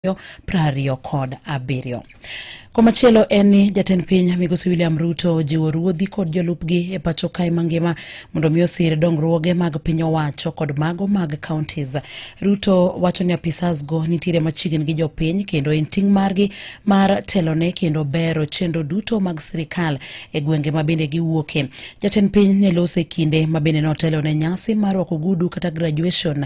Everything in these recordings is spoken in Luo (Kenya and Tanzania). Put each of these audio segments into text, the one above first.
ariyo pra ariyo kod abiriyo. Komachielo en ni jatend piny migosi William Ruto ojiwo ruodhi kod jolupgi e pacho kae mangima mondo mi osir dongruoge mag piny owacho kod mago mag counties. Ruto wacho ni apisas go nitiere machiegni gi jopiny kendo en ting' margi mar telone kendo bero chenro duto mag sirikal e gwenge ma bende giwuoke. Jatend piny ne lose kinde ma bende notelo ne nyasi mar rwako ogudu kata graduation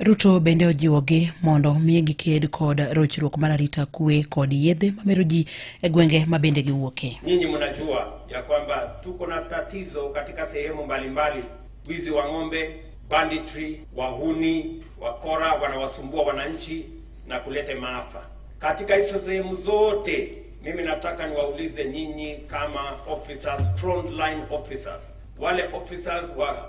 Ruto bende ojiwogi mondo mi giked kod rochruok mar arita kwe kod yedhe mamero ji e gwenge ma bende giwuoke. Nyinyi mnajua ya kwamba tuko na tatizo katika sehemu mbalimbali, wizi wa ng'ombe, banditry, wahuni, wakora wanawasumbua wananchi na kulete maafa katika hizo sehemu zote. Mimi nataka niwaulize nyinyi kama officers, frontline officers, wale officers wa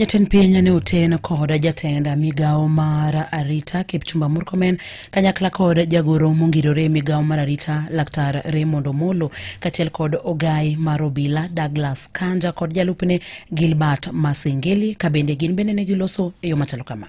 Jatend piny ne oten kod jatend migawo mar arita Kipchumba Murkomen kanyakla kod jagoro mongirore migawo mar arita laktar Raymond Omolo kachiel kod ogai mar obila Douglas Kanja kod jalupne Gilbert Masengeli kabende gin bende ne giloso e yo machalo kama.